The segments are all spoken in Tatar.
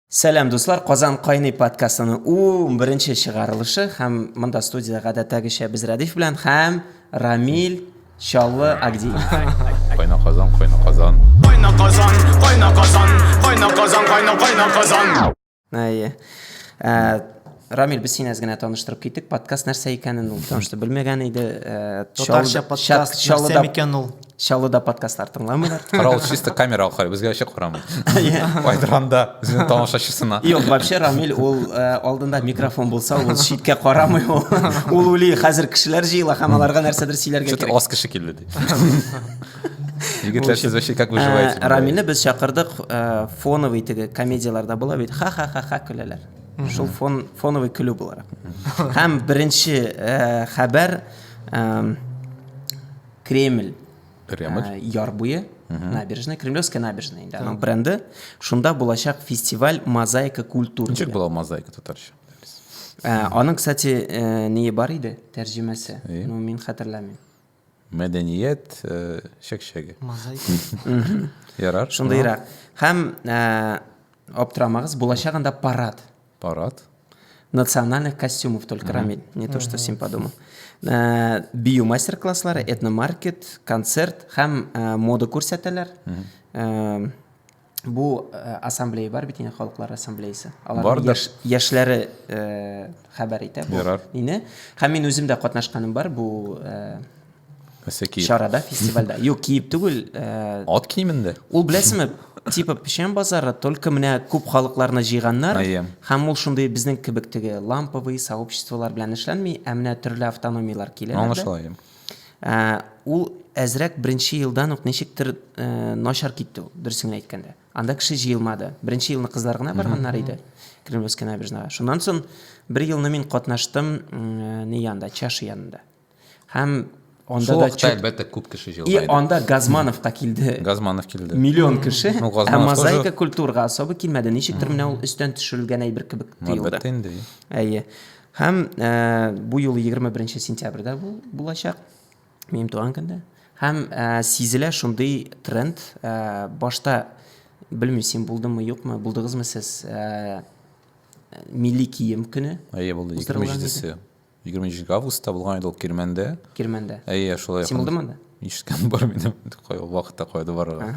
Сәлам дуслар, Казан кайный подкастының ун беренче чыгарылышы һәм монда студиядә гадәттәгечә без Радиф белән һәм Рамил Чаллы Агди. Кайна Казан, кайна Казан. Кайна Казан, кайна Казан, кайна Казан, кайна кайна Казан. Әйе. Ә, Рамил, без сине әз генә таныштырып киттек. Подкаст нәрсә икәнен ул таныштыр белмәгән иде. Э, Татарча подкаст нәрсә икән ул? Чаллыда подкастлар тыңламыйлар. Карау чисто камера аркылы безгә ачык карамый. Айдыранда үзенең тамашачысына. Юк, вообще Рамил ул э, алдында микрофон булса, ул читкә карамый ул. Ул ули хәзер кешеләр җыела һәм аларга нәрсәдер сөйләргә кирәк. Аз кеше килде ди. Егетләр сез вообще как выживаете? Э, Рамилне без чакырдык, фоновый теге комедияләрдә була бит. Ха-ха-ха-ха көләләр. шул фон, фоновый көлү буларак һәм беренче э, хәбәр э, кремль Кремль. Э, яр буе набережная кремлевская набережная инде аның бренды шунда булачак фестиваль мозаика культур ничек була мозаика татарча э, аның кстати э, нее бар иде тәрҗемәсе ну мин хәтерләмим Мәдәният чәкчәге. Ярар. Шундыйрак. Һәм аптырамагыз, булачагында парад. Парад. Национальных костюмов только Рамиль, не то что син подумал. Бию мастер-класслары, этномаркет, концерт һәм мода күрсәтәләр. бу э, ассамблея бар бит инде халыклар ассамблеясы аларның яш, яшьләре э, хәбәр итә бу мине һәм мин үзем дә катнашканым бар бу э, чарада фестивальдә юк киеп түгел э, ат киемендә ул беләсеңме типа печән базары только менә күп халыкларны җыйганнар һәм ул шундый безнең кебек теге ламповый сообществолар белән эшләнми ә менә төрле автономиялар киләләр аңлашыла Ә, ул әзрәк беренче елдан ук ничектер ә, начар китте ул, дөресен генә әйткәндә. Анда кеше җыелмады. Беренче елны кызлар гына барганнар иде. Кремлевская набережная. Шуннан соң бер елны мин катнаштым ә, ни янда, чаши янында. Һәм анда да чөт... әлбәттә күп кеше җыелды. И анда Газмановка килде. Газманов килде. Миллион кеше. Ну, ә мозаика тоже... культурага особо килмәде. Ничектер менә ул өстән төшерелгән әйбер кебек тоелды. Әлбәттә инде. Әйе. Һәм ә, бу юлы 21 сентябрьдә бу булачак, минем туган көндә. Һәм ә, сизелә шундый тренд. Ә, башта белмим, син булдымы, юкмы, булдыгызмы сез ә, милли кием көне? Әйе, булды. 27-се. 27 августта булган иде ул Кирмәндә. Кирмәндә. Әйе, шулай. Син булдымы анда? Ишеткән бар минем. Кай вакытта кайда барырга.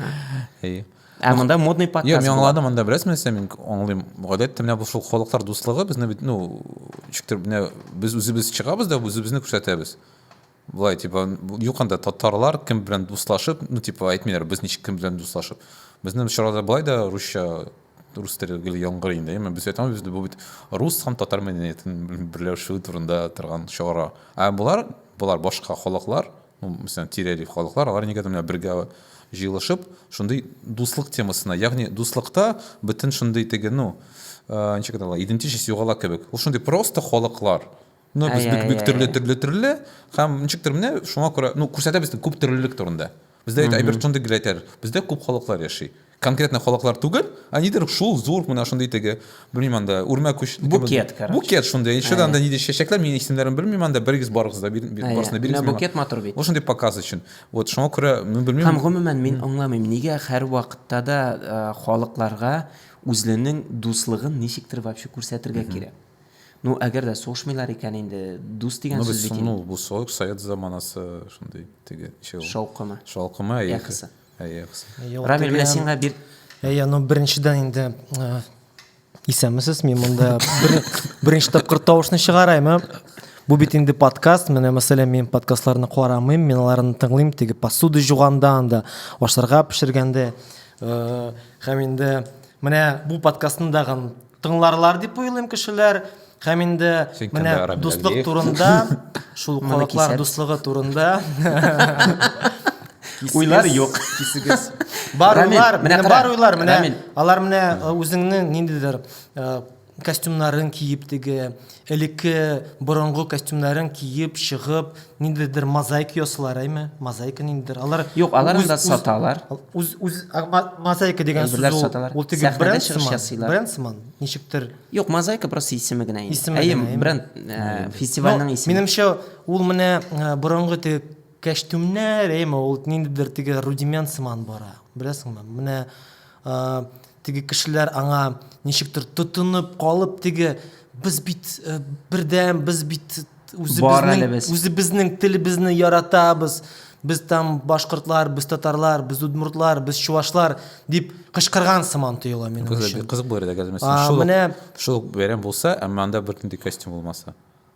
Әйе. Ә монда модный подкаст. Йо, мин аңладым, монда бераз нәрсә мин аңлыйм. Гадәттә менә бу шул халыклар дуслыгы безне бит, ну, чиктер менә без үзебез чыгабыз да үзебезне күрсәтәбез. Булай типа юк анда татарлар кем белән дуслашып, ну типа әйтмиләр без ничек кем белән дуслашып. Безнең чарада булай да русча рус теле гел яңгыр инде. Мен без әйтәм без бу бит рус һәм татар мәдәниятен берләшү турында торган чара. Ә булар, булар башка халыклар Ну, мәсәлән, тирәли халыклар, алар нигәдер менә бергә җыелышып, шундый дуслык темасына, ягъни дуслыкта бөтен шундый теге, ну, э, ничек әйтә идентичность югала кебек. Ул шундый просто халыклар. Ну, без бик бик төрле төрле төрле һәм ничектер менә шуңа күрә, ну, күрсәтә бездә күп төрлелек турында. Бездә әйбер шундый гел әйтәләр. Бездә күп халыклар яши. конкретно халыклар түгел, а нидер шул зур менә шундый теге, белмим анда, үрмә күч. Букет, короче. Букет шундый. Еще анда нидер чәчәкләр, мин исемнәрен белмим анда, берегез барыгыз да барысына бирегез. Менә букет матур бит. Ул шундый показ өчен. Вот шуңа күрә мин белмим. Һәм гомумән мин аңламыйм, нигә һәр вакытта да халыкларга үзләренең дуслыгын ничектер вообще күрсәтергә кирәк. Ну, әгәр дә сугышмыйлар икән инде, дус дигән ну, сүз бит. Ну, бу совет заманасы шундый теге. Шаукымы. Шаукымы, әйе. Яхысы. Әйе, Аксел. Рамил, менә сиңа бир. Әйе, ну беренчедән инде э, исәнмесез, мин монда беренче тапкыр тавышны чыгарайм. Ә? Бу бит инде подкаст. Менә мәсәлән, мин подкастларны карамыйм, мин аларны тыңлыйм, теге посуда жуганда анда, ашарга пешергәндә. Э, һәм инде менә бу подкастны дагын Тыңларлар дип уйлыйм кешеләр. Һәм инде менә дуслык турында, шул халыклар дуслыгы турында уйлар юк. Кисегез. Бар уйлар, менә бар уйлар, менә алар менә үзеңнең ниндидер костюмнарын киеп теге, элекке борынгы костюмнарын киеп чыгып, ниндидер мозаика ясыйлар әйме мозаика ниндидер алар юк алар анда саталар үз үз мозаика дигән сүз саталар ул теге бренд чыгыш ясыйлар бренд сыман ничектер юк мозаика просто исеме генә исеме әйем бренд э, фестивальнең исеме минемчә ул менә э, борынгы теге кәчтүмнәр әйме ул ниндидер теге рудимент сыман бара беләсеңме менә Теге кешеләр аңа ничектер тотынып калып, теге без бит э, бердәм, без бит үзебезнең үзебезнең телебезне яратабыз. Без там башкортлар, без татарлар, без удмуртлар, без чувашлар дип кычкырган сыман тоела минем өчен. Кызык булыр иде, әгәр шул шул бәйрәм булса, әмма анда бер нинди костюм булмаса.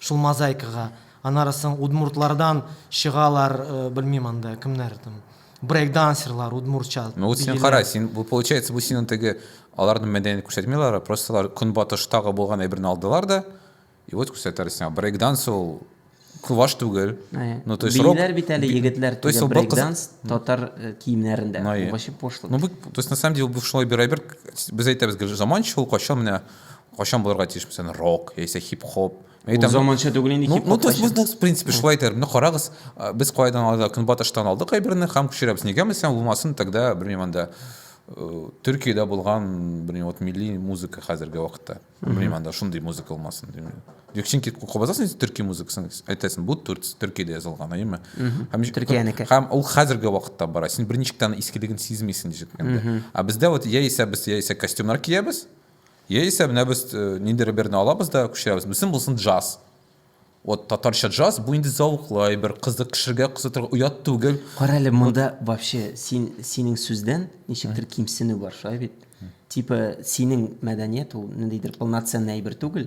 Шул мозаикага. Аннары соң удмуртлардан чыгалар, белмим анда кемнәр там, брейкдансерлар удмуртча. Ну вот син кара, син бу получается бу синең теге аларның мәдәниятен күрсәтмиләр, а просто алар көнбатыштагы булган әйберне алдылар да, и вот күрсәтәләр сиңа. Брейкданс ул куваш түгел. Ну то есть рок. Биләр бит әле егетләр теге брейкданс татар киемнәрендә. Вообще пошлый. Ну то есть на самом деле бу шулай бер әйбер, без әйтәбез, заманча ул кайчан менә кайчан булырга тиеш мәсәлән рок яисә хип хоп Ул заманча түгел инде хип хоп ну в принципе шулай әйтәләр менә карагыз без кайдан алдык көнбатыштан алдык әйберне һәм күчерәбез нигә мәсәлән булмасын тогда белмим анда э, төркиядә булган белмим вот милли музыка хәзерге вакытта белмим анда шундый музыка булмасын димим чөнки кабазасың төрки музыкасын әйтәсең бу төркиядә язылган әйеме һәм төркиянеке һәм ул хәзерге вакытта бара син берничектән искелеген сизмисең ничек ә бездә вот яисә без яисә костюмнар киябез Яисә менә без э, нинди реберны алабыз да күчерәбез. Бүсен булсын джаз. Вот татарча джаз бу инде зәвыклы бер кызык кешегә кызытырга оят түгел. Кара әле монда вообще син синең сүздән ничектер кимсенү бар, шулай бит? Типа синең мәдәният ул ниндидер полноценный әйбер түгел.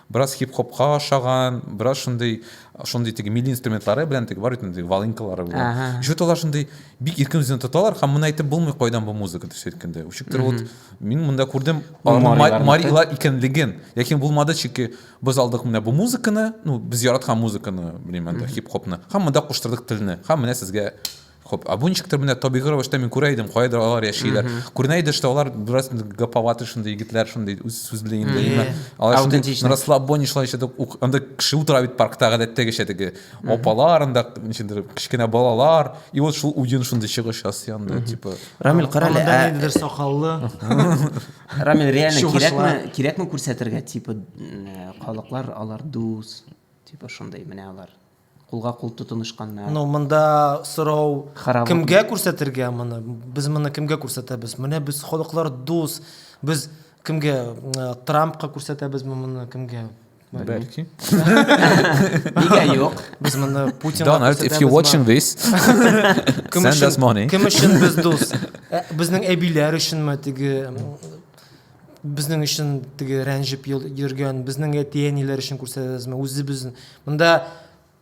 Бераз хип-хопка ошаган, бераз шундый, шундый теге милли инструментлары белән теге бар бит инде волынкалары белән. Ага. Еще алар шундый бик иркен үзен тоталар һәм моны әйтеп булмый кайдан бу музыка төшә әйткәндә. Үчектер вот мин монда күрдем аларның марилар икәнлеген. Ләкин булмады чики без алдык менә бу музыканы, ну без яраткан музыканы, белмим анда хип-хопны. Һәм монда куштырдык телне. Һәм менә сезгә Хоп, абунчиктер менә табигый рәвештә мин күрә идем, каядыр алар яшиләр. Күренә иде, что алар бераз гаповаты шундый егетләр, шундый үз сүз белән инде. Именно алар шундый Аутентичность. расслабонешлар ишетеп, ук- анда кеше утыра бит паркта гадәттәгечә теге. Апалар анда ничендер кечкенә балалар. И вот шул уен шундый чыгыш ясый анда, типа. Рамил, кара әле, Анда ә, ниндидер сакаллы. Рамил, реально Чугышлар. кирәкме, кирәкме күрсәтергә, типа, м, халыклар, алар дус, типа, шундый, менә алар. кулга кул тотынышканнар. Ну, монда сорау Харап кемгә күрсәтергә моны? Без моны кемгә күрсәтәбез? Менә без халыклар дус. Без кемгә э, Трампка күрсәтәбезме моны кемгә? Бәлки. Нигә юк? Без моны Путинга Donald, if you're watching this, send us money. Кем өчен без дус? Э, безнең әбиләр өченме теге Безнең өчен теге рәнҗеп йөргән, безнең әти-әниләр өчен күрсәтәсезме? Үзебез монда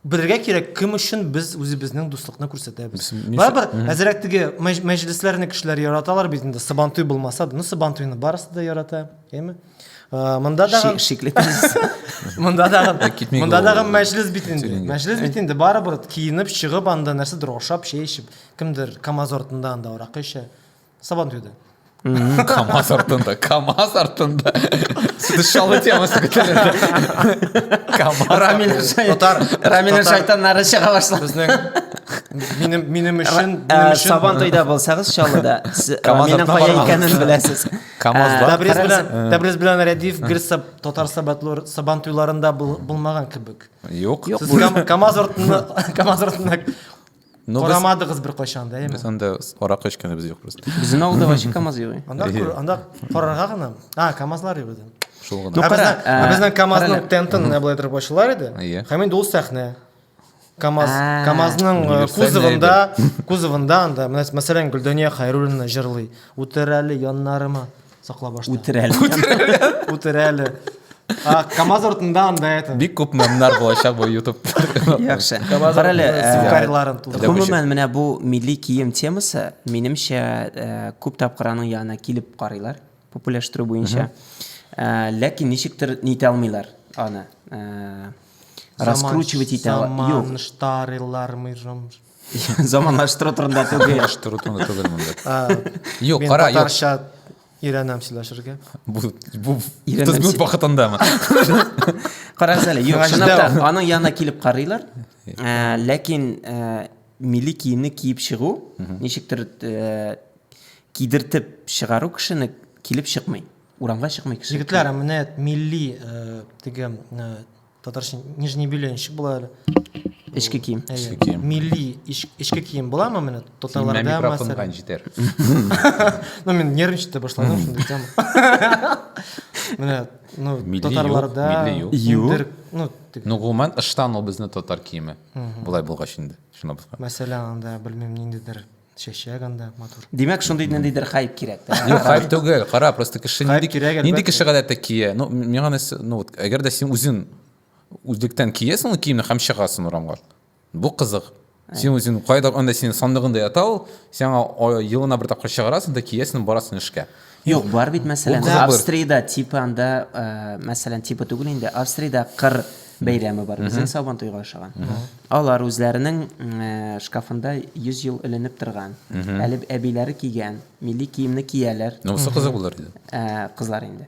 белергә кирәк, кем өчен без үзебезнең дуслыкны күрсәтәбез. Барыбер әзрәк теге мәҗлесләрне кешеләр яраталар бит инде, Сабантуй булмаса да, ну Сабантуйны барысы да ярата, әйме? Э, монда да шикле Монда да монда да мәҗлес бит инде. Мәҗлес бит инде барыбер киенеп чыгып анда нәрсәдер ашап, чәй эчеп, кемдер КАМАЗ артында анда аракы эчә. Сабантуйда. Камаз артында, КАМАЗ артында. Сыдышалы темасы көтелер. КАМАЗ. Рамиль Татар. Рамиль шайтаннары чыга башлады. Безнең минем минем өчен минем өчен Сабан туйда булсагыз Чаллыда Рамилнең кая икәнен беләсез. КАМАЗ бар. Тәбриз белән Тәбриз белән Рәдиф гел Татар сабатлар Сабан туйларында булмаган кебек. Юк. Сез КАМАЗ артында КАМАЗ артында Ну, без, Карамадыгыз беркайчан да, без яме. анда аракы эчкәнебез юк просто. Безнең авылда вообще КАМАЗ юк. Анда күр- анда карарга гына. А, КАМАЗлар юк иде. Шул гына. Ну, Ә кара, безнең- ә, ә безнең КАМАЗның карале. тентын менә болай торып ачылар иде. Иә. Һәм инде ул сәхнә. КАМАЗ, А. КАМАЗның э, Универсальный кузовында, кузовында анда, менә мәсәлән, Гөлдания Хайруллина җырлый. Үтерәле яннарыма. Сакла башта. Үтер әле. Үтер әле. КАМАЗ артында анда это. Бик күп мемнар булачак бу YouTube. Яхшы. Бар әле сукариларын тудырып. Гомумән менә бу милли кием темасы минемчә күп тапкыр аның янына килеп карыйлар популяштеру буенча. Ләкин ничектер нитә алмыйлар аны. Раскручивать итә. Юк. Заман штарилар мы Заманлаштыру турында түгел. Заманлаштыру турында түгел монда. Юк, кара, юк. Татарча өйрәнәм сөйләшергә. Бу бу тезгү вакытындамы? Карагыз әле, юк, чынлап та аның янына килеп карыйлар. Э, ләкин э, милли киемне киеп чыгу, ничектер э, кидертеп чыгару кешене килеп чыкмый. Урамга чыкмый кеше. Егетләр, менә милли теге татарча нижний бельенщик була әле эчке кием эчке кием милли эчке кием буламы менә татарларда микрофонга җитәр ну мен нервничать ете башладым шундый тема менә ну татарларда юк ну ну гомумән ыштан ул безнең татар киеме болай булгач инде шуны мәсәлән анда белмим ниндидер Чәчәк анда матур. Димәк, шундый ниндидер хайп кирәк. Юк, хайп түгел. Кара, просто кеше нинди кирәк, нинди кеше гадәттә кия. Ну, миңа нәрсә, ну вот, әгәр дә син үзең үзлектән киясең ул киемне һәм чыгасың урамга. Бу кызык. Син үзең кайда анда синең сандыгыңда ята ул, сиңа елына бер тапкыр чыгарасың да киясең, барасың эшкә. Юк, бар бит, мәсәлән, Австриядә типа анда, мәсәлән, типа түгел инде, Австриядә кыр бәйрәме бар. Безнең Сабан туйга ошаган. Алар үзләренең шкафында 100 ел эленеп торган, әле әбиләре кигән милли киемне кияләр. Монысы кызык булыр иде. Кызлар инде.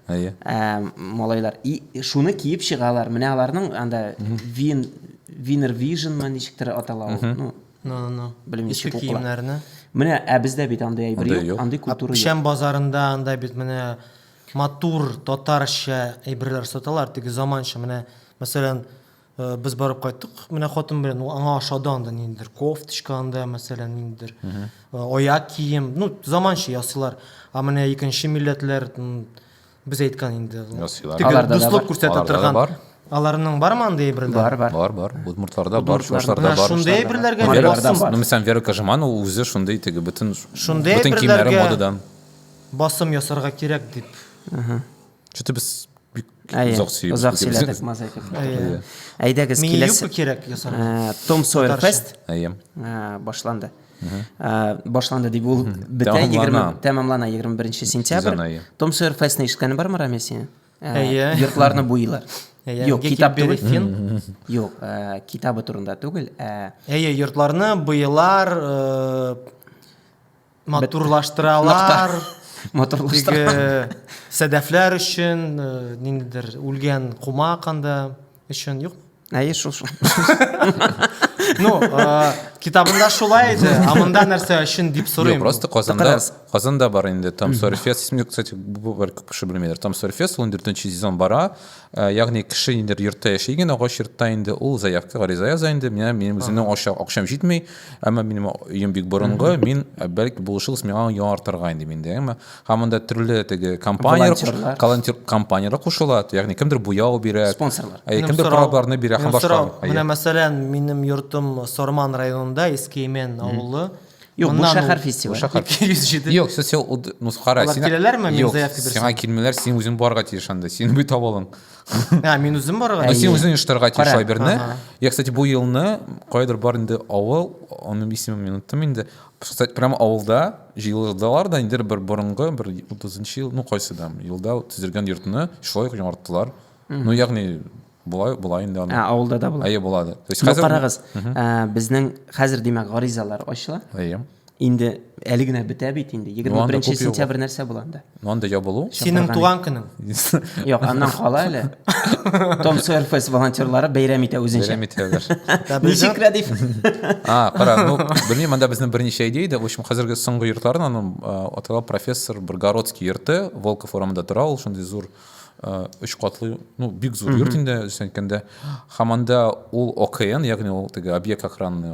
Малайлар. И шуны киеп чыгалар. Менә аларның анда Вин Винер Вижн ма ничектер атала ул. Ну, Ну, ну, ну. Белмим, Иске чек укыла. киемнәрне. Менә, ә бездә бит андый әйбер Андый юк, юк. андый культура юк. Печән базарында анда бит менә матур татарча әйберләр саталар, теге заманча менә, мәсәлән, э, без барып кайттык, менә хатын белән ул аңа ошады анда ниндидер кофточка анда, мәсәлән, ниндидер э, аяк кием, ну, заманча ясыйлар. А менә икенче милләтләр м, Без әйткән инде. Тегер дуслык күрсәтә торган. Аларның бар ма андый әйберләр? Бар, бар. Бар, бар. Удмуртларда бар, чуашларда бар. Шундый әйберләргә ни басым? Ну, мисән Вера Кожеманова үзе шундый теге бөтен шундый бөтен киемнәре модадан. Басым ясарга кирәк дип. Ага. Чөтә без бик озак сөйләдек. Озак сөйләдек, маза итеп. Әйдәгез, киләсе. Мин юбка кирәк ясарга. Том Сойер Фест. Әйе. Башланды. башланды дип ул бетә тәмамлана егерме беренче сентябрь том сойер фестны ишеткәнең бармы рамил синең әйе йортларны буйлар Юк, китап түгел. Юк, китабы турында түгел. Әйе, йортларны буялар, матурлаштыралар. Матурлаштыралар. Сәдәфләр өчен, ниндидер үлгән кума канда өчен юк. әйе шул шул ну э, китабында шулай иде а мында нәрсә өчен дип сорыйм просто казанда казанда бар инде там сорфес исемде кстати бер күп кеше белмидер там сорфес он дүртенче сезон бара э, ягъни кеше инде йортта яши икән агач йортта инде ул заявка гариза яза инде менә минем үземнең акчам җитми әмма минем өем бик борынгы мин э, бәлки булышыгыз миңа яңартырга инде миндә әмма һәм анда төрле теге компанияләр волонтерлар компанияләр кушыла ягъни кемдер буяу бирә спонсорлар ә кемдер корабларны бирә һәм башка менә мәсәлән минем йортым сорман районында иске имен авылы Юк, бу шәһәр фестивале. Шәһәр. 207. Юк, сез сел ну скара. Алар киләләрме? Мин заявка бирсәм. Сиңа килмиләр, син үзең барга тиеш анда. Син бит табалың. А, мин үзем барга. А син үзең иштырга тиеш Айберне. Я, кстати, бу елны кайдыр бар инде авыл, аның исемен мин оттым инде. Прямо авылда Җыелдылар да инде бер борынгы, бер утызынчы ел, ну кайсы да, елда төзелгән йортны шулай ук яңарттылар. Ну ягъни болай болай инде аны. Ә авылда да була. Әйе булады. То есть ну, хәзер. Карагыз, ә, безнең хәзер димәк гаризалар ачыла. Әйе. Инде әле генә бетә бит инде. 21 сентябрь нәрсә була анда? Мондый ябылу. Синең туган көнең. Юк, аннан кала әле. Том Сойер Фест волонтерлары бәйрәм итә үзенчә. Бәйрәм итәләр. Ничек рәдиф? А, кара, ну, белмим, анда безнең берничә идея иде. В общем, хәзерге соңгы йортларын аның атала профессор Бргородский йорты, Волков урамында тора ул, шундый зур өч катлы, ну, бик зур йорт инде, исәнкәндә. Һәм анда ул ОКН, ягъни ул теге объект охранный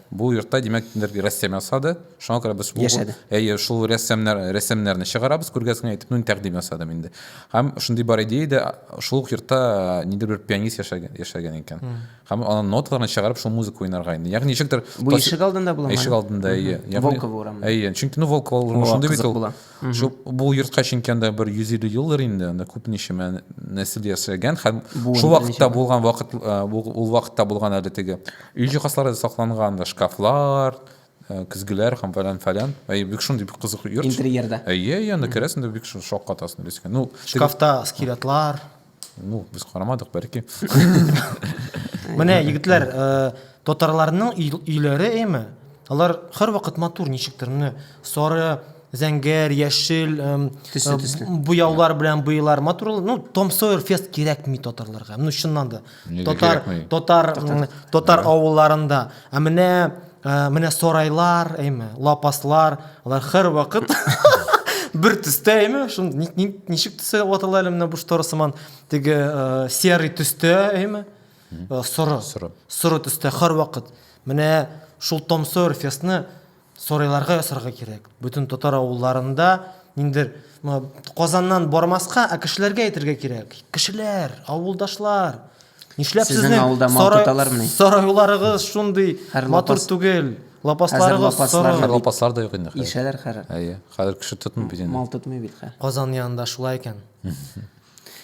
Бу йортта, димәк, бер рәссам ясады. Шуңа күрә без яшәде. Әйе, шул рәссамнар рәссамнарны чыгарабыз, күргәзмә итеп, ну, тәкъдим ясадым инде. Һәм шундый бар идея дә, шул ук йортта э, нидер бер пианист яшәгән, яшәгән икән. Һәм аның ноталарын чыгарып, шул музыка уйнарга инде. Ягъни ничектер Бу ишек алдында буламы? Ишек алдында, әйе. Волкова урамы. Әйе, чөнки ну Волкова урамы шундый бит ул. Шул бу йортка чөнки анда бер 150 елдыр инде, анда күп ничәмә нәсел яшәгән һәм шул вакытта булган вакыт ул вакытта булган әле теге өй җиһазлары сакланган да шкафлар, көзгеләр һәм фәлән фәлән. Әй бик шундый бик кызык йорт. Интерьерда. Әйе, әйе, анда керәсең дә бик шаккатасың дисең. Ну, шкафта скелетлар. ну без карамадык бәлки менә егетләр татарларның өйләре әйме алар һәрвакыт матур ничектер менә сары зәңгәр яшел төсле төсле буяулар белән буялар матур ну том сойер фест кирәкми татарларга ну чыннан да татар татар татар авылларында ә менә Ә, менә сарайлар, әйме, лапаслар, алар хәр вакыт бер төстә, әйме, шул ни, ни, ничек төсә ватыла әле менә бу штора сыман, теге ә, серый төстә, әйме, ә, соры, соры, соры төстә хәр вакыт. Менә шул Том Сойер фестны сарайларга ясарга кирәк. Бөтен татар авылларында ниндер Казаннан бармаска, ә кешеләргә әйтергә кирәк. Кешеләр, авылдашлар, Нишләп Сезнең сезнең авылда мал сарай- тоталармыни? сарайларыгыз шундый Хәр матур лапас- түгел? Хәзер Лапасларыгыз лапаслар соры. Хәзер лапаслар да юк инде. хәзер. Ишәләр хәзер. Әйе. Хәзер кеше тотмый бит инде. Мал тотмый бит хәзер. Казан янында шулай икән.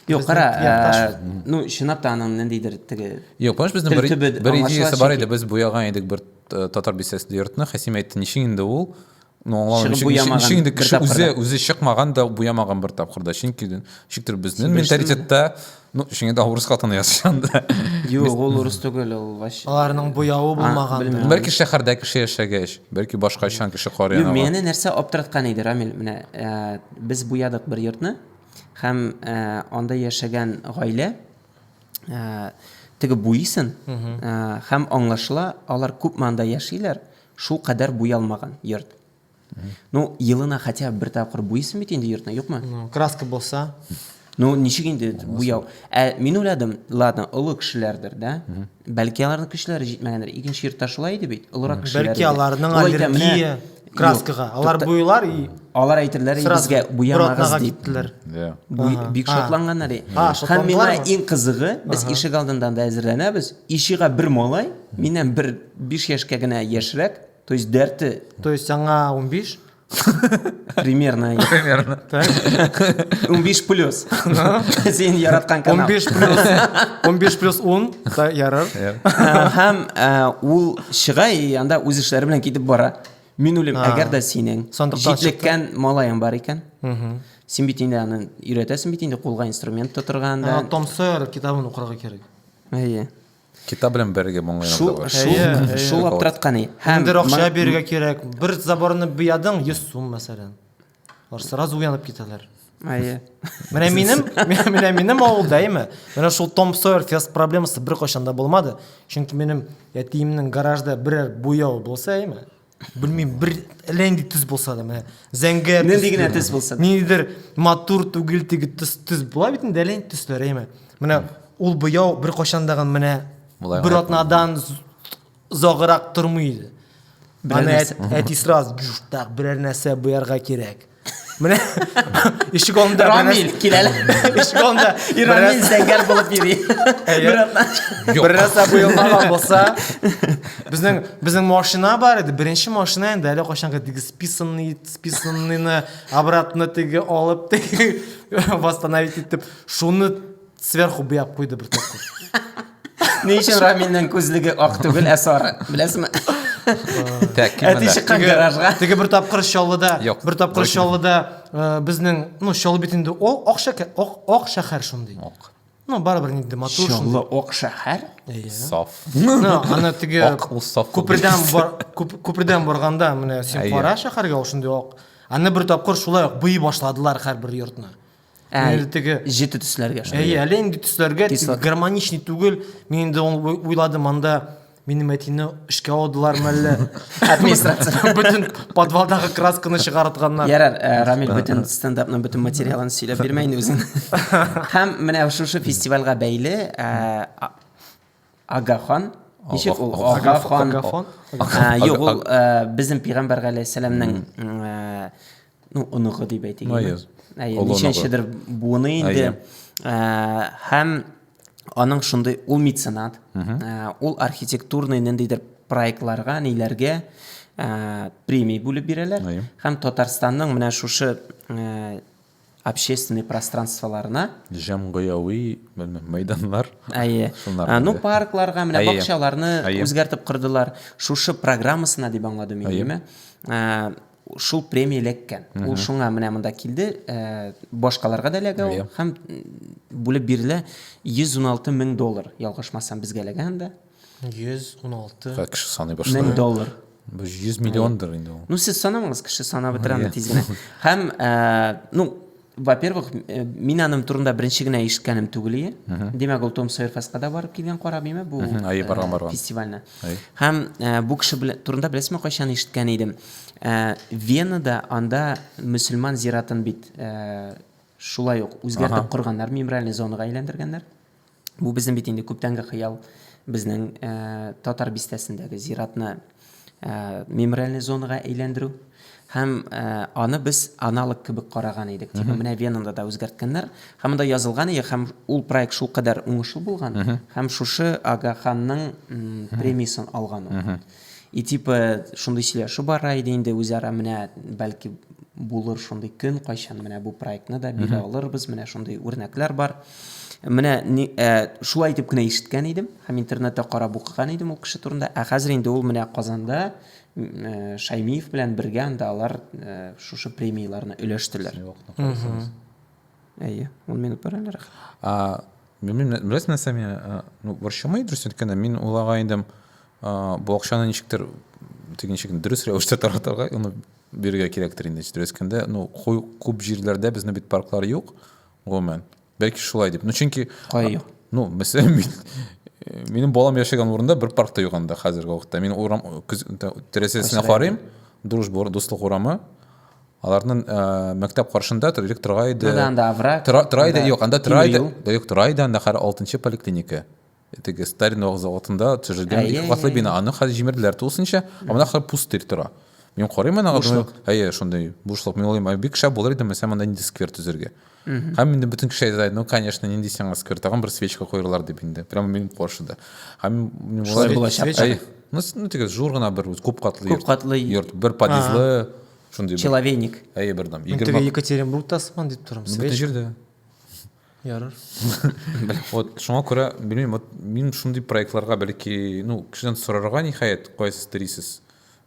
Юк, кара, якташ. ә, ну, чынлап та аның ниндидер теге Юк, понимаешь, безнең Тел бер, төбе бер аңлашыла идеясе бар чөнки. иде. Без буяга идек бер э, татар бистәсендә йортны. Хәсим әйтте, ничек инде ул Ну, аңламыйм. Чыгып буямаган. Чөнки инде кеше үзе үзе чыкмаган да буямаган бер тапкырда. Чөнки ничектер безнең менталитетта Ну, шуңа да урыс хатыны язышан да. Юк, ул урыс түгел, ул вообще. Аларның буявы булмаган. Бәлки шәһәрдә кеше яшәгәч, бәлки башка чан кеше карый аны. Мине нәрсә аптыраткан иде, Рамил, менә э, без буядык бер йортны һәм э, анда яшәгән гаилә э, теге буйсын һәм аңлашыла, алар күпме анда яшиләр, Шул кадәр буялмаган йорт. Ну, елына хотя бы бер тапкыр буйсын бит инде йортны, юкмы? Ну, краска булса. Ну, ничек инде буяу? Ә мин уйладым, ладно, олы кешеләрдер, да? Бәлки аларның көчләре җитмәгәндер. Икенче йортта шулай иде бит, олырак кешеләр. Бәлки аларның аллергия краскага. Алар буйлар и алар әйтерләр безгә буямагыз дип. Иә. Бик шатланганнар. Һәм миңа иң кызыгы, без ишек алдында да әзерләнәбез. Ишега бер малай, миннән бер Биш яшькә генә яшьрәк, то есть дәрте. То есть аңа унбиш? Примерно. Примерно. Унбиш плюс. Син яраткан канал. Унбиш плюс. Унбиш плюс ун. Ярар. Һәм ул чыга и анда үз эшләре белән китеп бара. Мин үлем, әгәр дә синең җитлеккән малаең бар икән, син бит инде аны өйрәтәсең бит инде кулга инструмент тотырга анда. Том Сойер китабын укырга кирәк. Әйе. Китап белән бергә моңлы Шул, янда бар. шул, Әйе, әйе. шул аптыратканы. Һәм Ниндер акча ма- бирергә кирәк. Бер заборны буядың 100 сум мәсәлән. Алар сразу уянып китәләр. Әйе. Менә минем, менә- менә минем авылда әйме. Менә шул Том Сойер фест проблемасы беркайчан да булмады. Чөнки минем әтиемнең гаражда берәр буяу булса әйме. Белмим, бер ләнди төз булса да, менә зәңгәр. Нинди генә төз булса да. Ниндидер матур түгел теге төз төз була бит инде ләнди төсләр, әйме. Менә ул буяу бер кайчан да менә бер атнадан загырак тормый иде. Аны әти сразу так берәр нәрсә буярга кирәк. Менә ишек алдында Рамил килә. Ишек алдында и Рамил зәңгәр булып йөри. Бернәрсә буелмаган булса, безнең безнең машина бар иде. Беренче машина инде әле кайчанга теге списанный списанныйны обратно теге алып теге восстановить итеп шуны Сверху буяп куйды бер тапкыр. Ни өчен Рамилнең күзлеге ак түгел, ә сары? Беләсезме? Так, кем Әти монда? чыккан гаражга. Теге бер тапкыр Чаллыда, Юк, бер тапкыр дөрес. Чаллыда э, безнең, ну, Чаллы бит инде ол ак шәкә- ак ак шәһәр шундый. Ак. Ну, барыбер инде матур Чаллы шундый. ак шәһәр. Иә. Саф. Ну, аны теге Ак ул саф ул күпердән бит. бар күп- күпердән барганда менә син Әйе. кара шәһәргә ул шундый ак. Аны бер тапкыр шулай ук буй башладылар һәрбер йортны. Ә, Инде теге җете төсләргә. шул. Әйе, әле инде төсләргә Төс тик гармоничный түгел. Мин инде ул- уй- уйладым, анда минем әтине эшкә алдылармы әллә? Администрация. Бөтен подвалдагы красканы чыгартганнар. Ярар, ә, Рамил бөтен стендапның бөтен материалын сөйләп бирмә инде үзең. Һәм менә шушы фестивальгә бәйле ә, а- Агахан. Ничек ул? Агахан. Агахан. Юк, ул безнең пәйгамбәр галәйһиссәламнең ну, оныгы дип әйтик. Маяз. Ничәнчедер буыны инде. Һәм аның шундый ул меценат, ул архитектурный ниндидер проектларга, ниләргә премия бүлеп бирәләр. Һәм Татарстанның менә шушы общественный пространстволарына, җәмгыяви мәйданнар, әйе, ну, паркларга, менә бакчаларны үзгәртеп кордылар, шушы программасына дип аңладым мин, әйеме, шул премия эләккән. Ул шуңа менә монда килде, башкаларга да эләгә ул, һәм бүлеп бирелә 116 мең доллар, ялгышмасам, безгә эләгә анда. 116. Ха, кеше саный башлый. Мең доллар. Бу 100 миллиондыр инде ул. Ну, сез санамагыз, кеше санап бетерә аны тиз генә. Һәм, э, ну, во-первых, э, мин аның турында беренче генә ишеткәнем түгел ие. Димәк, ул Том Сойер фестка барып килгән кара биме бу э, фестивальне. Һәм бу кеше турында беләсезме, кайчан ишеткән идем? Венада анда мөселман зиратын бит шулай ук үзгәртеп корганнар, мемориальный зонага әйләндергәннәр. Бу безнең бит инде күптәнге хыял. Безнең ә, Татар бистәсендәге зиратны ә, мемориальный зонага әйләндерү. Һәм ә, аны без аналог кебек караган идек. Типа, менә Венада да үзгәрткәннәр. Һәм монда язылган иде, һәм ул проект шул кадәр уңышлы булган, һәм шушы Ага ханның премиясын алган ул. И типа шундый сөйләшү бара иде инде үзара менә бәлки булыр шундый көн кайчан менә бу проектны да бирә алырбыз менә шундый үрнәкләр бар менә ни, ә, шулай итеп кенә ишеткән идем һәм интернетта карап укыган идем ул кеше турында ә хәзер инде ул менә казанда ә, шаймиев белән бергә анда алар ә, шушы премияләрне өләштеләр Әйе, ун минут бар әле рәхәт. Беләсең нәрсә миңа, ну, борчымый дөрес әйткәндә, мин уйлага идем, бу акчаны ничектер теге ничек дөрес рәвештә таратырга, аны бирергә кирәктер инде. Дөрес әйткәндә, ну, күп җирләрдә безне бит парклар юк, гомумән. Бәлки шулай дип. Ну, чөнки Кая юк? Ну, мәсәлән, мин минем балам яшәгән урында бер парк та юк анда хәзерге вакытта. Мин урам тәрәзәсенә карыйм, Дружба, дуслык урамы. Аларның ә, мәктәп каршында элек тора иде. Анда анда овраг. Тора, тора иде, юк, анда тора иде. Юк, тора иде, анда хәзер 6 поликлиника. Теге Сталин вак заводында төшерелгән ике катлы бина. Аны хәзер җимерделәр тулысынча, ә монда хәзер пустырь тора. Мин карыйм аны, бушлык. Әйе, шундый бушлык. Мин уйлыйм, бик шәп булыр иде, мәсәлән, монда нинди сквер төзергә. Һәм инде бөтен кеше әйтә, ну, конечно, нинди сиңа сквер, тагын бер свечка куерлар дип инде. Прямо минем каршыда. Һәм мин булачак. Ну, ну, теге зур гына бер күп катлы. Күп катлы. Йорт, бер подъездлы. шундый человейник әйе бер дам теге екатеринбургта асман дип торам бөтен җирдә ярар вот шуңа күрә белмим вот мин шундый проектларга бәлки ну кешедән сорарга ниһаять кайсы телисез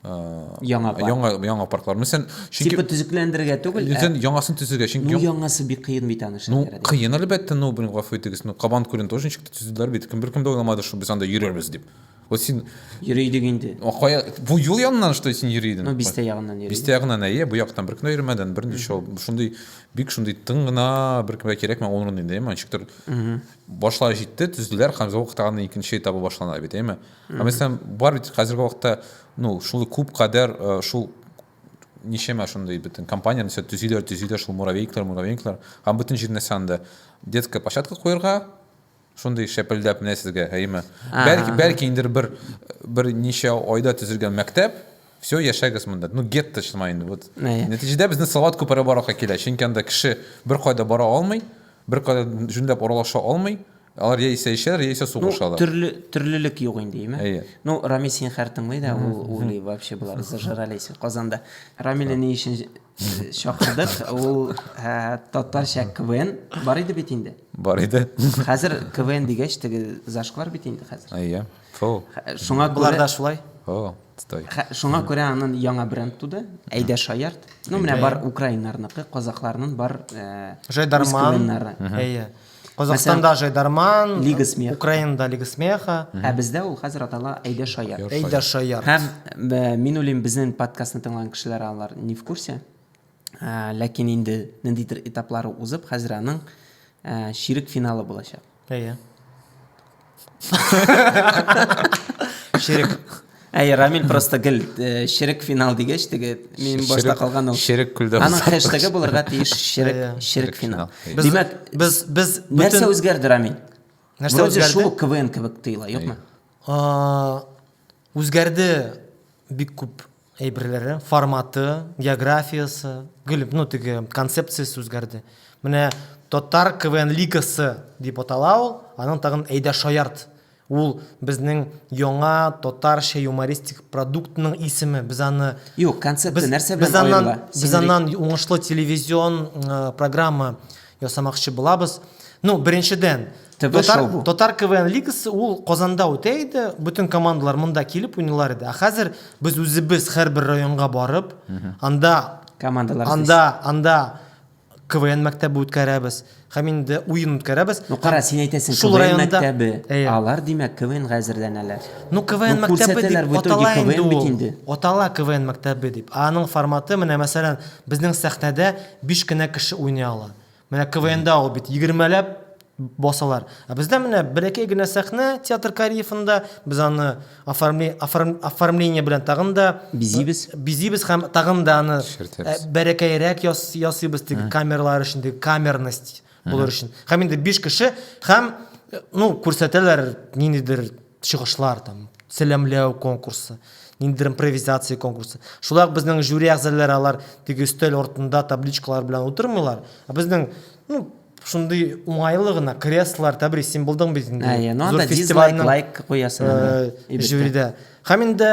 яңа яңа яңа парклар мәсәлән чөнки типа төзекләндерергә түгел үзен яңасын төзергә чөнки ну яңасы бик кыен бит аны ну кыен әлбәттә ну белмим гафу итегез ну кабан күлен тоже ничек төзеделәр бит кем беркем дә уйламады что без анда йөрербез дип Вот син... Йөри идек инде. Кая... Бу юл янынан что син йөри идең? Ну, бистә ягыннан йөри. Бистә ягыннан, әйе, бу яктан бер кенә йөрмәдән, бер ничә ул. Шундый бик шундый тын гына, бер кемгә кирәкмә ул урын инде, әйме? Ничектер башлар җитте, төзделәр, һәм вакытта аны икенче этабы башлана бит, әйме? Ә мәсәлән, бар бит хәзерге вакытта, ну, шул күп кадәр э, шул ничәмә шундый бөтен компания нәрсә төзиләр, төзиләр шул муравейниклар, муравейниклар, һәм бөтен җир нәрсә анда. Детская площадка куярга, Шундый шәпелдәп менә сезгә, әйеме? Бәлки, бәлки инде бер бер ничә айда төзелгән мәктәп, все, яшәгез монда. Ну, гетто шыма инде. Вот. Нәтиҗәдә безне Салават күпере барырга килә, чөнки анда кеше бер кайда бара алмый, бер кайда җүнләп аралаша алмый. Алар яисә эчәләр, яисә сугышалар. Ну, төрле, төрлелек юк инде, әйеме? Әйе. Ну, Рамил син хәр тыңлый да, ул, ул вообще болар зажрались Казанда. Рамилне ни өчен Чакырдык, ул ә, татарча КВН бар иде бит инде. Бар иде. Хәзер КВН дигәч, теге зашклар бит инде хәзер. Әйе. Фу. Хә- Шуңа Болар күрә да шулай. О, стой. хә- шуңа күрә анын яңа бренд туды. Әйдә шаярт. Ну, менә бар украиннарныкы, казакларнын бар э, үз Жайдарман. КВНнары. Әйе. Казахстанда Жайдарман, Лига смеха. Украинада Лига смеха. Ә бездә ул хәзер атала Әйдә шаяр. Әйдә шаяр. Һәм бә, мин уйлыйм, безнең подкастны тыңлаган кешеләр алар не в курсе. Ә, ләкин инде ниндидер этаплары узып, хәзер аның ә, ширек финалы булачак. Әйе. Ширек. Әй, Рамил просто гел э, ширек финал дигәч теге мин башта калган ул. Ширек күлдә. Аның хэштеге булырга тиеш ширек ширек финал. Димәк, без без нәрсә үзгәрде Рамил? Нәрсә үзгәрде? Шул КВН кебек тыйла, юкмы? Үзгәрде бик күп әйберләре, форматы, географиясе, гел, ну, теге концепциясе үзгәрде. Менә Татар КВН лигасы дип атала ул, аның тагын әйдә шаярт. Ул безнең яңа татарча юмористик продуктның исеме. Без аны Юк, концепция нәрсә белән аерыла? Без аннан уңышлы телевизион программа ясамакчы булабыз. Ну, беренчедән, Татар, Татар КВН лигасы ул Казанда үтә иде, бөтен командалар монда килеп уйныйлар иде. Ә хәзер без үзебез һәрбер районга барып, анда командалар анда анда КВН мәктәбе үткәрәбез. Һәм инде уен үткәрәбез. Ну кара, син әйтәсең, шул районда мәктәбе. Әйе. Алар димәк КВН әзерләнәләр. Ну КВН ну, мәктәбе дип атала инде ул. Атала КВН мәктәбе дип. Аның форматы менә мәсәлән, безнең сәхнәдә Биш кенә кеше уйный ала. Менә КВНда ул бит егермеләп басалар. Ә бездә менә бәләкәй генә сәхнә театр Кариевында, без аны оформле- оформ- оформление белән тагын да Бизибез. бизибез һәм тагын да аны Эшкәртәбез. бәләкәерәк яс- ясыйбыз теге камералар өчен, теге камерность булыр өчен. Һәм инде биш кеше һәм, ну, күрсәтәләр ниндидер чыгышлар там сәламләү конкурсы ниндидер импровизация конкурсы шулай ук безнең жюри әгъзалары алар теге өстәл артында табличкалар белән утырмыйлар ә безнең ну шундый уңайлы гына креслолар тәбрис син булдың бит инде ә, ну, зур фестивальның лайк куясың ә, жюрида һәм инде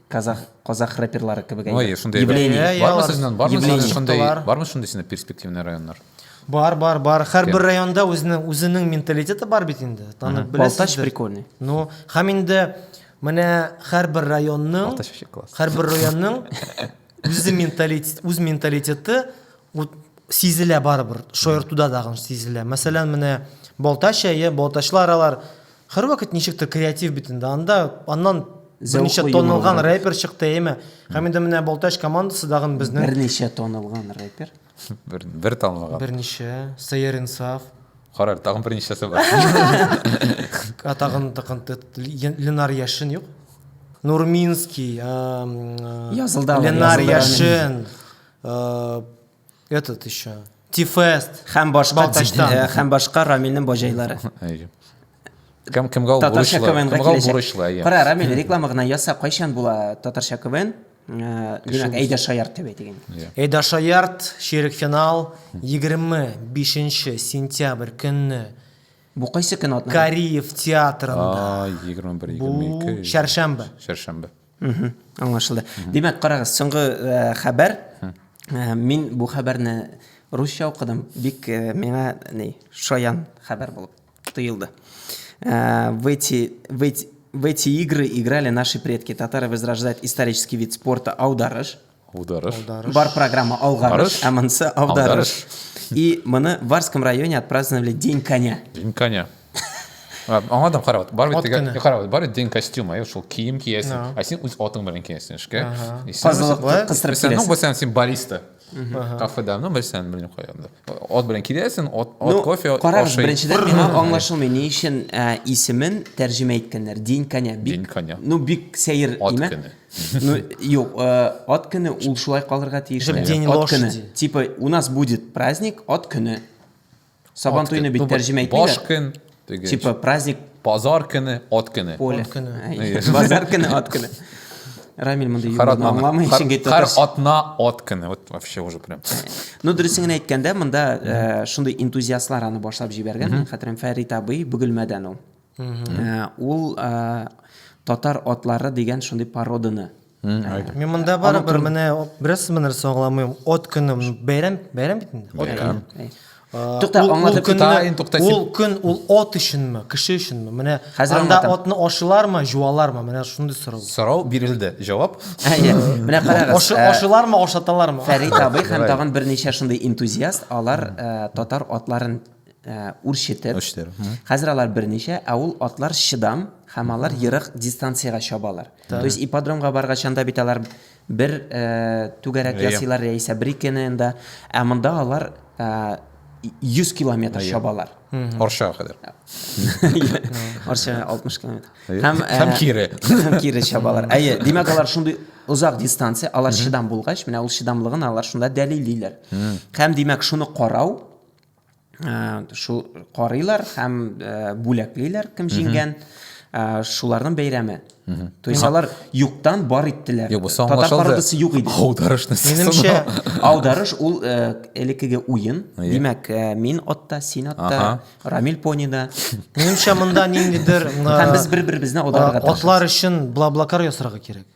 казах казах рэперлары кебек әйбер шундай бармы сезнен бармы шундай бармы шундай сине перспективный районнар бар бар бар һәрбер районда үзенең үзенең менталитеты бар бит инде танып беләсез прикольный ну һәм инде менә һәрбер районның һәрбер районның үзе менталитет үз менталитеты сизелә барыбер шаяртуда дагы сизелә мәсәлән менә балтач әйе балтачлы аралар Һәрвакыт ничектер креатив бит инде. Анда аннан берничә тонылган рэпер чыкты, әйме? Һәм инде менә Балтач командасы дагын безнең Берничә тонылган рэпер. Бер бер тонылган. Берничә Сәйер Инсаф. Карар, тагын берничәсе бар. Атагын тагын Ленар Яшин юк. Нурминский, Язылда Ленар Яшин. Этот еще. Тифест. Һәм башка Балтачтан. дин- һәм башка Рамилнең баҗайлары. Әйе. Кем кемгә ул Татарча бурычлы? КВНга Кемгә ул киләчәк. бурычлы? әйе. Кара, Рамил, реклама гына яса, кайчан була татарча КВН? Э, Димәк, әйдә шаярт дип әйтегез. Эйда Шаярт, ширек финал, 25 сентябрь көнне Бу кайсы көн атна? Кариев театрында. А, 21 Бу 22. шәршәмбе. Шәршәмбе. Аңлашылды. Димәк, карагыз, соңгы хәбәр. Мин бу хәбәрне русча укыдым. Бик миңа ни, шаян хәбәр булып тоелды. В эти, в эти, в эти игры играли наши предки. Татары возрождают исторический вид спорта аударыш. Аударыш. Аударыш. Бар программа алгарыш, ә монысы аударыш. И моны в Варском районе отпраздновали День коня. День коня. Аңа да карават. Бар бит теге карават. Бар день костюм, ай шул кием киясең. Ә син үз атың белән киясең эшкә. Казылыклы кыстырып киясең. Ну, босян син бариста. Кафеда, ну, босян белмим кайганда. От белән киләсең, от, от кофе, от Карагыз, беренчедән миңа аңлашылмый, ни өчен исемен тәрҗемә иткәннәр. День коня. День коня. Ну, бик сәер имя. Ну, юк, э, от көне ул шулай калырга тиеш. Чтобы день от лошади. көне. Типа, у нас будет праздник от көне. Сабан туйны бит тәрҗемә Баш итмиләр. көн. теге, Типа, праздник Базар көне, от көне. поле. От көне. Әй, Базар көне, от көне. Рамиль монда Хар юлны атна. аңламый, Хар- чөнки Хар татарча. атна, от көне. Вот вообще уже прям. Ну, дөресен генә әйткәндә, монда э, шундый энтузиастлар аны башлап җибәргән. Мин хәтерем Фәрит абый Бөгелмәдән ул. Э, ул э, татар атлары дигән шундый породаны Мин монда бары бер менә бераз сымы нәрсә аңламыйм. От көне бәйрәм, бәйрәм бит инде. От көне. Тукта, аңлатып китәйин, тукта. Ул көн ул от өченме, кеше өченме? Менә анда отны ашылармы, җуалармы? Менә шундый сорау. Сорау бирелде, җавап. Менә карагыз. Ашылармы, ашаталармы? Фәрит абый һәм тагын берничә шундый энтузиаст, алар татар атларын үрчетеп, хәзер алар берничә, ә ул атлар чыдам һәм алар ерак дистанциягә чабалар. То есть ипподромга баргач анда бит алар бер түгәрәк ясыйлар яисә бер икене инде, ә монда алар 100 километр чабалар. Арчага кадәр. Арчага 60 километр. Һәм кире. Һәм кире чабалар. Әйе, димәк алар шундый озак дистанция, алар чыдам булгач, менә ул чыдамлыгын алар шунда дәлиллиләр. Һәм димәк шуны карау, шул карыйлар һәм бүләклиләр кем җиңгән шуларның бәйрәме то есть алар юктан бар иттеләр татар пародасы юк иде аударышны менимчә аударыш ул элекеге уен димәк мин атта син атта рамил понида менимчә монда ниндидер һәм без бер беребезне аударырга атлар өчен блаблакар ясарга кирәк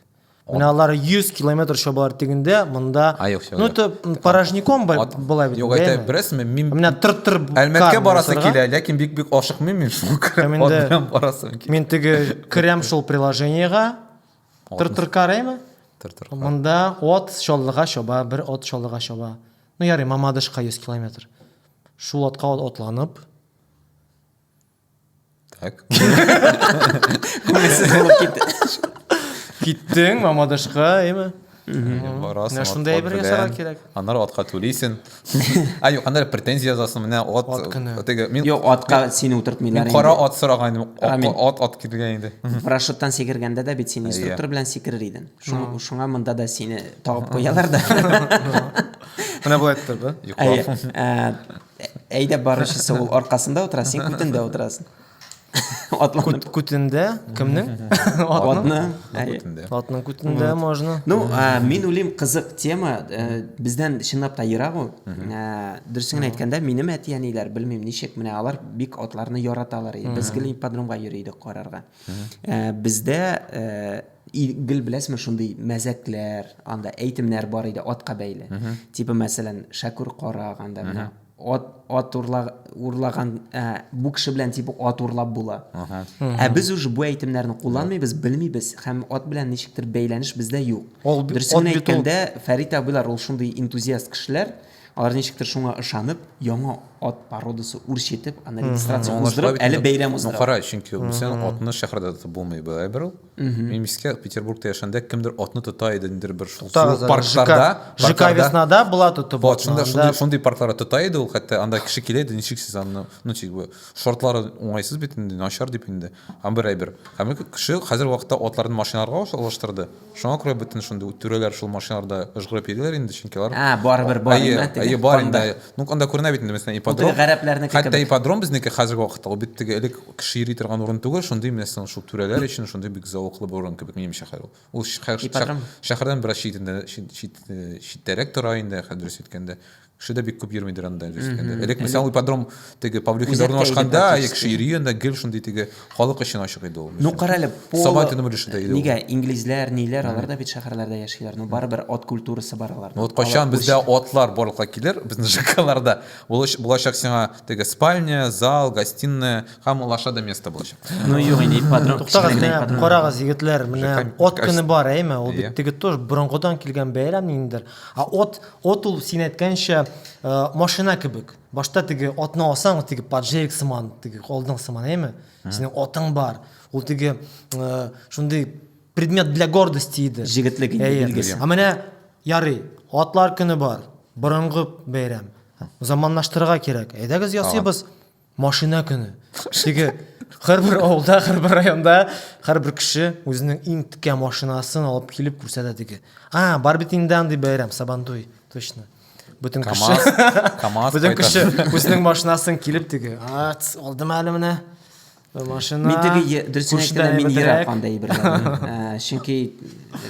Менә алар 100 километр чабалар тегендә, монда. А, юк, юк, Ну, юк. это м, порожняком бай- Ат- былай бит. Юк, әйтә, бәяме. беләсезме, мин Менә тыр-тыр Әлмәткә карны барасы ясарга. килә, ләкин бик-бик ашыкмыйм мин шул Һәм инде- ат белән барасым килә. Мин теге керәм шул приложениегә. Тыр-тыр караймы? Тыр-тыр. Монда от чаллыга чаба, бер от чаллыга чаба. Ну, ярый, Мамадышка 100 километр. Шул отка от- отланып, Так. Күңелсез булып китте. Киттең Мамадышка, әйме? Барасың. Менә шундай әйбер ясарга кирәк. Аннары атка түлисең. А юк, аннары претензия язасың, менә ат. Ат көне. Теге мин Юк, атка сине утыртмыйлар. Мин кара ат сораган идем. Ат ат килгән инде. Парашюттан сикергәндә дә бит син инструктор белән сикерер идең. Шуңа монда да сине тагып куялар да. Менә болай итеп торды. Йоклап. Әйдәп баручысы ул аркасында утыра, син күтендә утырасың. Атланып. Күтендә кемнең? Атны. Атның күтендә можно. Ну, мин уйлыйм, кызык тема. Э, бездән чынлап та ерак ул. Э, дөресен әйткәндә, минем әти-әниләр, белмим, ничек, менә алар бик атларны яраталар. Без гел ипподромга йөри идек карарга. Э, бездә И, гел беләсезме, шундый мәзәкләр, анда әйтемнәр бар иде атка бәйле. Типа, мәсәлән, Шәкүр карак, анда менә ат, ат урла, урлаган, ә, бу кеше белән типа ат урлап була. Ә без уже бу әйтемнәрне кулланмыйбыз, белмибез һәм ат белән ничектер бәйләнеш бездә юк. Дөресен әйткәндә, Фәрит абыйлар ул шундый энтузиаст кешеләр. Алар ничектер шуңа ышанып, яңа ат породасы үрчетеп, аны регистрация уздырып, әле бәйрәм уздыра. Ну, кара, чөнки Мусян атны шәһәрдә тотып булмый бая бер ул. Мин искә Петербургта яшәгәндә кемдер атны тота иде, ниндидер бер шул паркларда. ЖК Веснада була тотып. Вот, шунда шундый шундый паркларда тота иде ул, хәтта анда кеше килә иде, ничек сез аны, ну, типа, шортлары уңайсыз бит инде, начар дип инде. Һәм бер әйбер. Һәм ике кеше хәзерге вакытта атларын машиналарга алыштырды. Шуңа күрә бөтен шундый түрәләр шул машиналарда ыжгырып йөриләр инде, чөнки алар А, барыбер бар Әйе, инде теге. әйе, бар инде. Анда. Ну, анда күренә бит инде, мәсәлән, Бу теге ипподром. гәрәпләрнеке Хәтта кебек. ипподром безнеке хәзерге вакытта, ул бит теге элек кеше йөри торган урын түгел, шундый, мәсәлән, шул түрәләр өчен шундый бик зәвыклы бер урын кебек, минемчә, хәзер ул. Ул шә- шә- Ипподром. шәһәрдән бераз читендә, чит, чит, читтәрәк тора инде, хәзер дөрес әйткәндә. Кеше дә бик күп йөрмидер анда әле җиткәндә. Элек мисал ипподром теге Павлюхин урнашканда, кеше йөри анда гел шундый теге халык өчен ачык иде ул. Ну кара әле, Сабан төне өлеше дә иде. Нигә инглизләр, ниләр, алар да бит шәһәрләрдә яшиләр. Ну барыбер ат культурасы бар аларда. Вот кайчан бездә атлар барлыкка килер, безнең ЖКларда, булачак сиңа теге спальня, зал, гостиная һәм алаша да место булачак. Ну юк инде ипподром. Туктагыз, карагыз егетләр, менә ат көне бар, әйме? Ул бит теге тоже борынгыдан килгән бәйрәм ниндидер. Ә от, от ул син әйткәнчә машина кебек. Башта теге отны алсаң, ул теге поджерик сыман, теге алдың сыман, әйме? Синең отың бар. Ул теге шундый предмет для гордости иде. Җегетлек инде билгесе. Ә менә ярый, атлар көне бар. Борынгы бәйрәм. Заманлаштырырга кирәк. Әйдәгез ясыйбыз. Машина көне. Теге һәрбер авылда, һәрбер районда һәрбер кеше үзенең иң текә машинасын алып килеп күрсәтә теге. А, бар бит инде андый бәйрәм, Сабантуй, точно. Бөтен кеше. КАМАЗ. Бөтен кеше үзенең машинасын килеп теге. А, алдым әле менә. Машина. Мин теге дөресен әйткәндә мин ерак анда әйберләр. Чөнки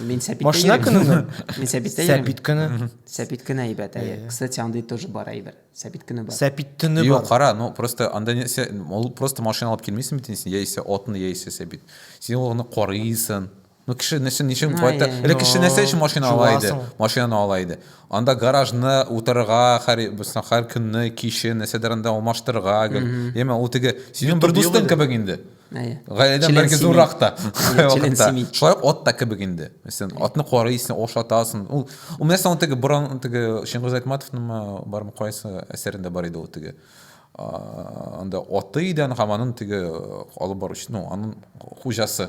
мин сәпит. Машина көне. Мин сәпит. Сәпит көне. Сәпит көне әйбәт. Кстати, андый тоже бар әйбер. Сәпит көне бар. Сәпит төне бар. Юк, кара, ну просто анда нәрсә, ул просто машина алып килмисең бит инде, яисә отны, яисә сәбит. Син ул гына карыйсың. Ну кеше нәрсә ничек кайта? Эле кеше нәрсә өчен машина ала иде? Машинаны ала иде. Анда гаражны утырырга, һәр бусна һәр көнне кичен нәрсәдер анда алмаштырырга, яме ул теге синең бер дустың кебек инде. гаиләдән бәлки зуррак та шулай ук ат та кебек инде сен атны карыйсың ашатасың ул ул менә соң теге борын теге чыңгыз айтматовныңмы бармы кайсы әсәрендә бар иде ул теге анда аты идән һәм аның теге алып баручы ну аның хуҗасы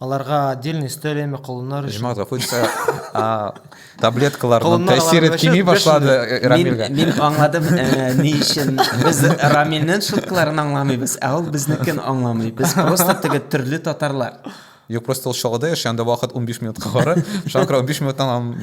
Аларга отдельный өстәл яме колыннар өчен. Җмат гафу итсә, таблеткаларның тәэсире кими башлады Рамилгә. Мин аңладым, ни өчен без Рамилнең шуткаларын аңламыйбыз, ә ул безнекен аңламый. Без просто теге төрле татарлар. Юк, просто ул Чаллыда яши, анда вакыт 15 минутка бара. Шуңа күрә 15 минуттан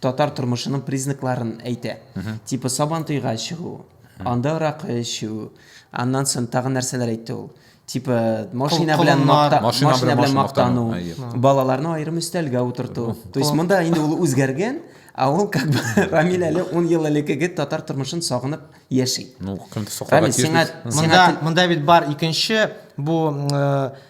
татар тормышының признакларын әйтә. Типа сабантуйга чыгу, анда аракы эчү, аннан соң тагы нәрсәләр әйтте ул. Типа машина белән макта, машина белән мактану, балаларны аерым өстәлгә утырту. То есть монда инде ул үзгәргән, а ул как бы Рамил әле 10 ел элеккеге татар тормышын сагынып яши. Ну, кем саклаган? Монда бит бар икенче бу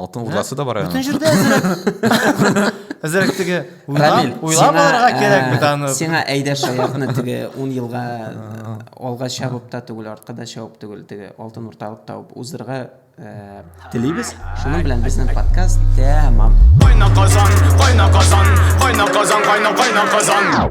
Алтын урдасы да бар әле. Бүтән җирдә әзрәк. Әзрәк теге уйлап, уйлап алырга кирәк бит аны. Сиңа әйдә шаяртны теге 10 елга алга чабып та түгел, артка да чабып түгел, теге алтын урталык табып узырга телибез. Шуның белән безнең подкаст тәмам. Кайна казан, кайна казан, кайна казан, кайна кайна казан.